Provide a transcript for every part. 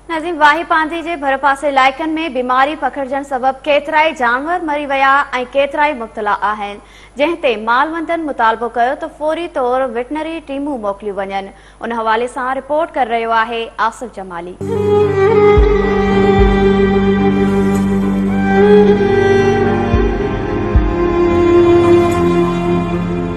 نظيم واهي پانڌي جي ڀرپاسي علائقن ۾ بيماري پکڙجڻ سبب ڪيترائي جانور مري ويا ۽ ڪيترائي مبتلا آهن جنهن تي مالوندن مطالبو ڪيو ته فوري طور وٽنري ٽيمون موڪليون وڃن ان حوالي سان رپورٽ ڪري رهيو آهي آصف جمالي.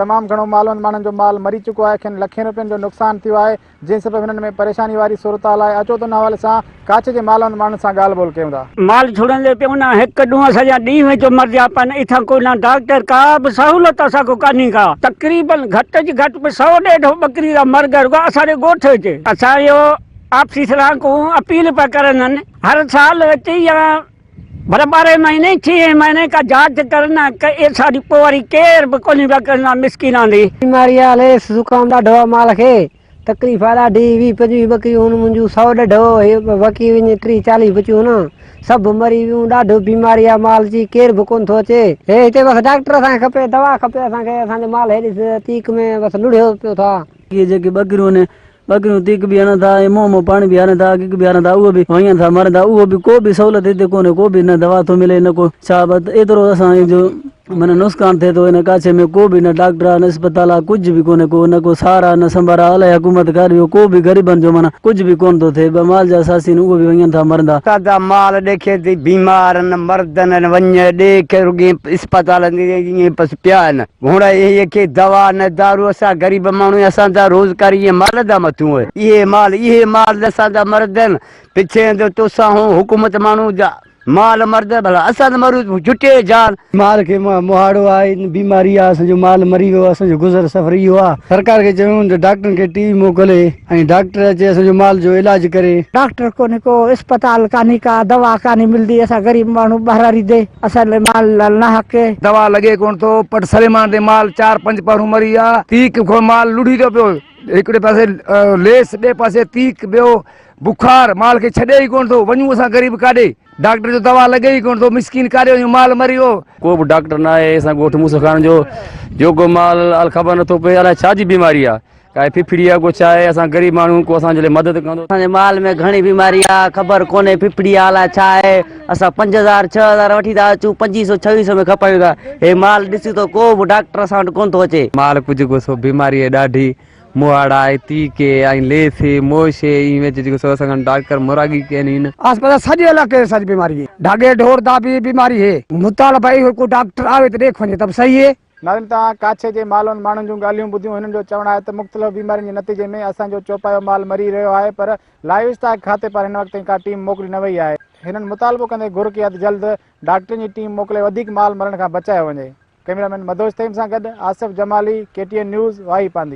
تمام گهڻو مالوند ماڻهن جو مال مري چڪو آهي کين لکين روپين جو نقصان ٿيو آهي جنهن سبب هنن ۾ پريشاني واري صورتحال آهي اچو ته ان حوالي سان ڪاڇ جي مالوند ماڻهن سان ڳالهه ٻولهه ڪيون ٿا. مال ڇڙندي پيو نه هڪ ڏونهن سڄا ڏينهن وچ مرجيا پيا آهن اتان ڪو نه ڊاڪٽر ڪا به سهولت اسان کي ڪانهي ڪا تقريبن گهٽ جي گهٽ به سؤ ڏيڍ ٻڪري جا مرڳ رڳو اسان جي ڳوٺ وچ اسان اهو آفيسران ڪون اپيل پيا ڪرن هن هر سال وچ يا پر ٻارهين مهيني ڇهين مهيني ڪا جاچ ڪر نه ڪئي سا ڏي پوء وري ڪير به ڪونهي وڪڻ نا مسڪين آندي. بيماري آ ليس زڪام ڏاڍو آ مال کي تڪليف آ ڏاڍي ويهه پنجويهه ٻڪريون هن منهنجون سؤ ڏڍ هو هي وڪي وڃي ٽيهه چاليهه بچيون هن سڀ مري ويون ڏاڍو بيماري آ مال جي ڪير به ڪونه ٿو اچي هي هتي بس ڊاڪٽر اسان کي کپي دوا کپي اسان کي اسان جو مال هيڏي تيڪ ۾ بس لڙهيو پيو ٿا. اهي جيڪي ٻڪريون هن ٻڪريون تيڪ به هڻن ٿا ۽ منهن مان پاڻي به هارين ٿا، اڳڪ به هارين ٿا، اهي به وهين ٿا، مرن ٿا، اهو به ڪو به سهولت هتي ڪونهي، ڪو به نه دوا ٿو ملي نه ڪو ڇا، بس ايترو اسان جو معنيٰ نقصان ٿئي ٿو، هن ڪاڇي ۾ ڪو به نه ڊاڪٽر آ نه اسپتال آ، ڪجهه به ڪونهي ڪو، نه ڪو سار آ نه سنڀار آ، الائي حڪومت ڪا ڏيو، ڪو به غريبن جو معنيٰ ڪجهه به ڪونه ٿو ٿئي، ٻه مال جا ساسي آهن اهي به وهين ٿا مرن ٿا. سادا مال ڏيکين ٿي بيمار آهن، مردن آهن، وڃ ڏيک رڳي اسپتالن تي ائين پس پيا آهن. هونء اهي ڪي دوا نه دارو اسان غريب ماڻهو اسان جا روزگار اهي مال جا مٿون هي اهي مال اهي مال اسان جا مرد هين پڇين ته توسان هون حڪومت ماڻهو جا مال مرد ڀلا اسان ته مرون ٿيون جٽي جان. مال کي مهاڙو آ هي بيماري آ اسان جو مال مري ويو آ اسان جو گذر سفر اهو آ سرڪار کي چويون ته ڊاڪٽرن کي ٽي وي موڪلي. ۽ ڊاڪٽر اچي اسان جو مال جو علاج ڪري. ڊاڪٽر ڪونهي ڪو اسپتال ڪانهي ڪا دوا ڪانهي ملدي اسان غريب ماڻهو ٻهراڙي دي اسان لي مال لال ناحق. دوا لڳي ڪونه ٿو پٽ سليمان تي مال چار پنج پهرون مري ويا تيڪ کان مال لڙهي ٿو پيو هڪڙي پاسي ليس ٻئي پاسي تيڪ ٻيو بخار مال کي ڇڏي ئي ڪونه ٿو وڃون اسان غريب ڪاڏي ڊاڪٽر جو دوا لڳي ئي ڪونه ٿو مسڪين ڪاڏي وڃون مال مري ويو. ڪو به ڊاڪٽر ناهي اسان ڳوٺ موسيٰ خان جو جوڳو مال الخبر نٿو پئي الائي ڇا جي بيماري آ. ڪاهي ڦڦڙي آ ڪو ڇا آهي اسان غريب ماڻهو ڪو اسان جي لاء مدد ڪندو. اسان جي مال ۾ گهڻي بيماري آ خبر ڪونهي ڦڦڙي آ الاء ڇا آهي اسان پنج هزار ڇهه هزار وٺي ٿا اچون پنجين سو ڇويهين سو ۾ کپايون ٿا هي مال ڏسيون ته ڪو به ڊاڪٽر اسان وٽ ڪونه ٿو اچي. مال ڪجهه ڪو سو بيماري آهي ڏاڍي مهاڙا آهي تيڪي ۽ ليسي موشي ائين ويچ جيڪو سو اسان کان ڊاڪٽر مراڳي ڪين هين. آس پاس سڄي علائقي ۾ ساڄي بيماري هي ڍاڳي ڍور ڌاٻي بيماري هي مطالبه اهو ڪو ڊاڪٽر آوي ته ڏيک وڃي ته به صحيح هي. ناظرين توهان ڪاڇي جي مالون ماڻهن جون ڳالهيون ٻڌيون هنن جو چوڻ آهي ته مختلف بيمارين جي نتيجي ۾ اسان جو چوپايو مال مري رهيو آهي پر لائيو اسٽاڪ کاتي پار هن وقت تائين ڪا ٽيم موڪلي نه وئي آهي هنن مطالبو ڪندي گهر ڪئي آهي ته جلد ڊاڪٽرن جي ٽيم موڪلي وڌيڪ مال مرڻ کان بچايو وڃي ڪئميرا مين مدهوش تيم سان گڏ Asif Jamali K T N news Wahi پانڌي.